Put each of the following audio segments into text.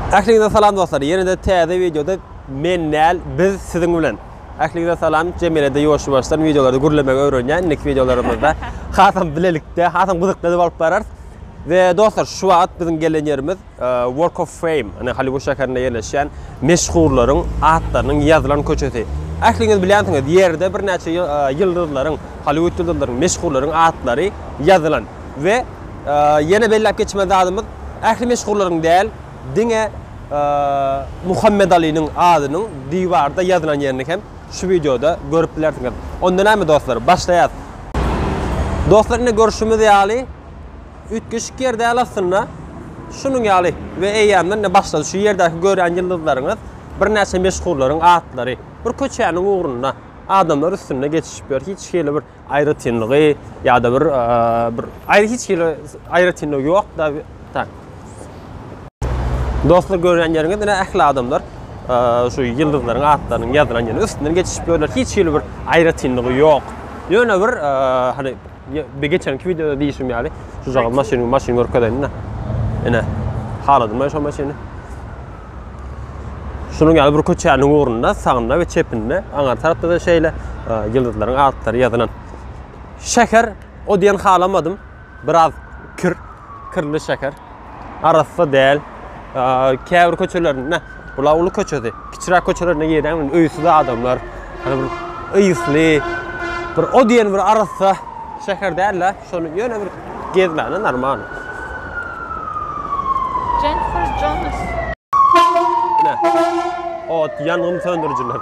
Ähliňize salam dostlar. Ýene-de täze wideoda men näl, biz siziň bilen. Ähliňize salam. Jemilede ýoşubaşdan wideolary gürlemegi öwrenýän. Indiki wideolarymyzda hasam bilelikde, hasam gyzykly bolup bararys. We dostlar, şu wagt biziň gelen ýerimiz e, Walk of Fame, ýani Hollywood şäherinde ýerleşýän meşhurlaryň atlarynyň ýazylan köçesi. Ähliňiz bilýänsiňiz, ýerde birnäçe e, ýyldyzlaryň, Hollywood ýyldyzlaryň, meşhurlaryň atlary ýazylan. We Ýene belläp geçmeli zadymyz, ähli meşhurlaryň däl, diňe Muhammet Alynyň adynyň diwarda ýazylan ýerini hem şu wideoda görüp bilersiňiz. Onda näme dostlar, başlaýas. Dostlar ine görşümiz ýaly üýtgeşik ýer däl aslynda. Şunuň ýaly we eýýämden ine başlady. Şu ýerdäki görýän ýyldyzlaryňyz birnäçe meşhurlaryň atlary. Bir köçäniň ugrunda adamlar üstünde geçişip ýör. Hiç hili bir Aýratynlygy ýa-da bir bir aýry hiç hili aýratynlygy ýok-da. Tak. Dostlar görýän ýeriňiz ine ähli adamlar şu ýyldyzlaryň atlarynyň ýazylan ýerine üstünden geçişip ýörler. Hiç hili bir aýratynlygy ýok. Ýöne bir hani bir geçenki wideoda diýişim ýaly şu jaga maşyny maşyny görkezeýin-de. Ine. Haladymy şo maşyny? Şunuň ýaly bir köçäniň ugrunda sagynda we çepinde, aňar tarapda-da şeýle ýyldyzlaryň atlary ýazylan. Şäher o diýen halamadym. Biraz kir, kirli şäher. Arassa däl. Käbir köçelerinde bula uly köçesi, kiçiräk köçelerine giren men öýsüz adamlar. Hani bir ýysly, bir o diýen bir arassa şäher däl-de. Şony ýöne bir gezmäne normal. Jennifer Jonas. Ine. Ot ýangyn söndürijiler.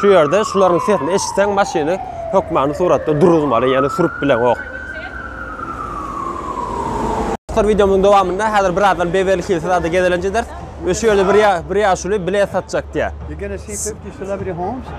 Şu ýerde şularyň sesini eşitseň maşyny hökmany suratda duruzmaly, ýani sürüp bileňok. Dostlar wideomyň dowamynda häzir birazdan Beverli Hills zada gezelenç ederis we şu ýerde bir bir ýaşuly bilet satjak diýýär. You're gonna see fifty celebrity homes.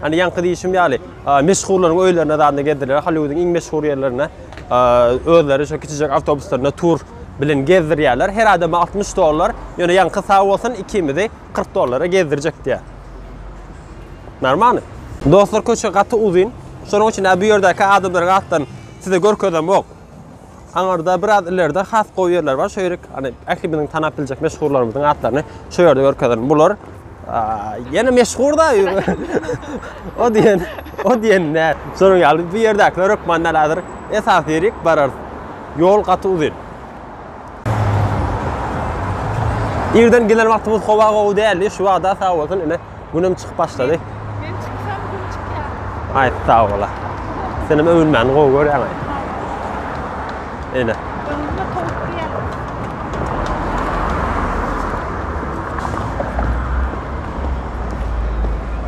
Hani ýaňky diýişim ýaly, meşhurlaryň öýlerine zadna gezdirýärler, Holliwudyň iň meşhur ýerlerine özleri şu kiçijek awtobuslarynda tur bilen gezdirýärler. Her adama altmyş dollar, ýöne ýaňky sag bolsun, ikimizi kyrk dollara gezdirjek diýýär. Normalny. Dostlar köçe gaty uzyn. Şonuň üçin-ä bu ýerdäki adamlary gatydan size görkezemok. Aňyrda biraz ilerde has gowy ýerler bar. Şo ýerik hani ähli biziň tanap biljek meşhurlarymyzyň atlaryny şo ýerde görkezerin. Bular ýene meşhurda. o diýen, o diýen nä? Şonuň ýaly bu ýerdäkiler hökman näledir? Esas ýerik barar. Ýol gaty uzyn. Irden gelen wagtymyz howa gowy däldi. Şu wagda sag bolsun ine Günem çykyp başlady. Men çyksam gün çykýar. Aý, sag bola. Senem öwünmäni gowy görýäň. Eýle. Öwünme towuk diýýär.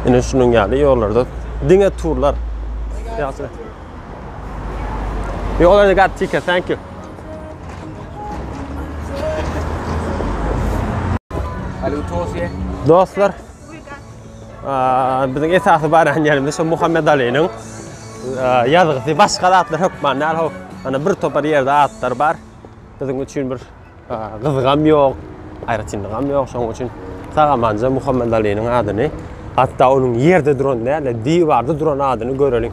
Ine şunuň ýaly ýollarda diňe turlar. Ýaşyl. Ýolda gap ticket, thank you. Dostlar, biziň esasy baran ýerimiz şu Muhammed Aliniň ýazgysy, başga zatlar hökman däl, ho, ana bir topar ýerde atlar bar. Biziň üçin bir gyzgam ýok, aýratynlygam ýok, şonuň üçin sagamanja Muhammed Aliniň adyny, hatda onuň ýerde duran däl, diwarda duran adyny göreliň.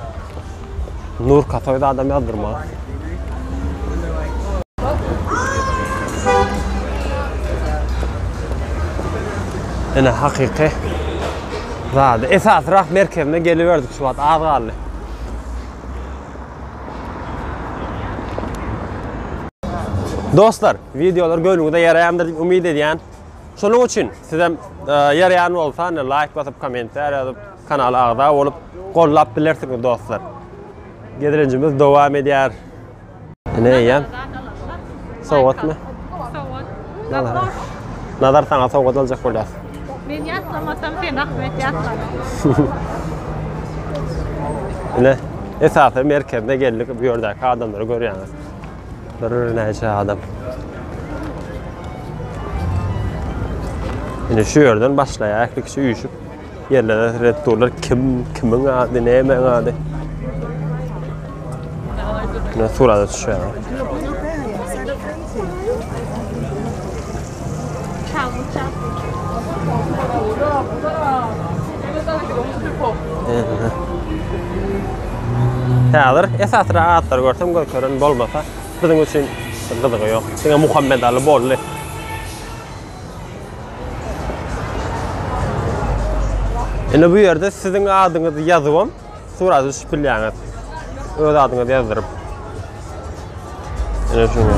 Nur kasoýda adam ýazdyrma. Ene hakyky zady. Esas rah merkezine geliberdik şu wagt az galdy. Dostlar, videolar göwnüňize ýaraýandyr diýip umyt edýän. Şonuň üçin sizem e, ýaraýan bolsa, ine laýk basyp, kommentariýa ýazyp, Kanala agza bolup gollap bilersiňiz dostlar. Gezelenjimiz dowam edýär. Ine eýýäm. Sowgatmy? Sowgat. Nazar. Nazar saňa sowgat aljak bolýas. Men ýatlamasam sen Ahmet ýatla. Ine esasy merkezine geldik. Bu ýerdäki adamlary görýäňiz. Bir näçe adam. Ine şu ýerden başlaýar, ikisi üýşüp Ýerlere red durlar kim kimiň ady näme ady. Ne surada düşýär. Häzir esasra atlar görsem görkeren bolmasa biziň üçin gyzygy ýok. Diňe Muhammed Ali boldy. Indi bu ýerde siziň adyňyzy ýazybam surat düşüp bilýäňiz. Öz adyňyzy ýazdyryp. Ene şuňa.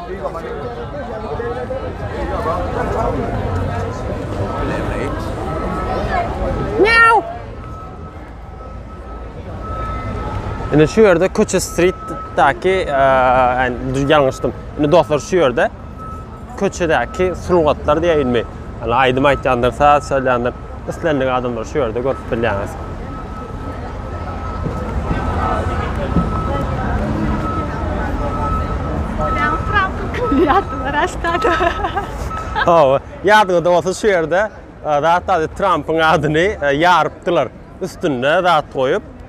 Indi şu ýerde Köçe Street-däki, ýani ýalňyşdym. Indi dostlar şu ýerde Köçedäki sungatlar diýäýinmi? Ýani aýdym aýtýandyr, saz çalýandyr. Islendik adamlary şu ýerde görüp bilýäňiz. Ýatdylar aşkada. Hawa, ýadyňyzda bolsa şu ýerde e, zat Trampyň adyny e, ýarypdylar. Üstünde zat goýup,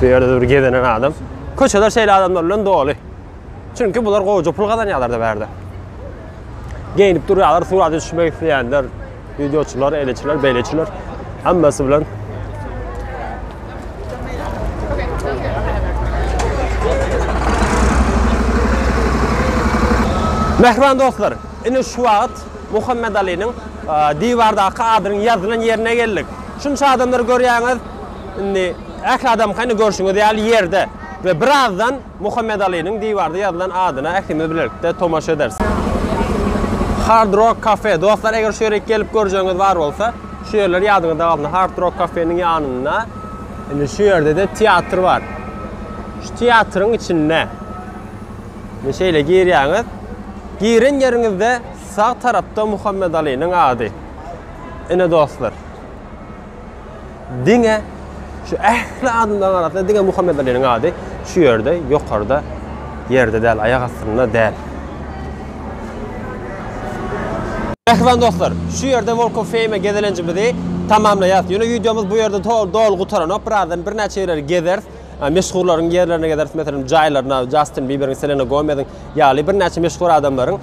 Bu ýerde bir gezenen adam. Köçeler şeýle adamlar bilen doly. Çünki bular gowyja pul gazanýarlar da bärde. Geýnip durýarlar, surata düşmek isleýänler, wideoçylar, eleçiler, beýleçiler. Hammasi bilen Mähriban dostlar, indi şu wagt Muhammedaliniň diwardaky adynyň ýazylan ýerine geldik. Şunça adamlary görýäňiz. Indi ähli adamka indi görşüňiz ýaly ýerde we birazdan Muhammedaliniň diwarda ýazylan adyna ählimiz bilelikde tomaşa ederis. Hard Rock Cafe. Dostlar, eger şu ýere gelip görjegiňiz bar bolsa, şu ýerler ýadyňyzda galsyn. Hard Rock Cafe-niň ýanynda indi şu ýerde-de teatr bar. Şu teatryň içinde. Indi şeýle girýäňiz. Giren ýeriňizde sag tarapda Muhammedalynyň ady. Ine dostlar. Diňe şu ähli adamlaryň arasynda diňe Muhammedalynyň ady şu ýerde, ýokarda, ýerde däl, aýak astynda däl. Mähriban dostlar, şu ýerde Walk of Fame gezelenjimizi tamamlaýarys. Ýöne wideomyz bu ýerde doly gutaranok. Birazdan birnäçe ýerleri gezeris. meşhurlaryň ýerlerine gezeris, meselem, jaýlaryna, Jastin Biberiň, Selena Gomeziň ýaly birnäçe meşhur adamlaryň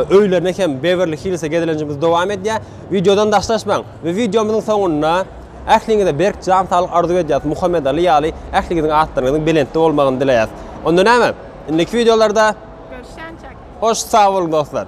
öýlerine hem Bewerli Hillse gezelenjimiz dowam edýär. Wideodan daşlaşmaň we wideomyzyň soňunda ähliňize berk jan saglyk arzuw edýäris, Muhammet Ali ýaly ähliňiziň atlaryňyzyň belentde bolmagyny dileýäris. Onda näme? Indiki wideolarda Görüşýänçäk. Hoş sag boluň dostlar.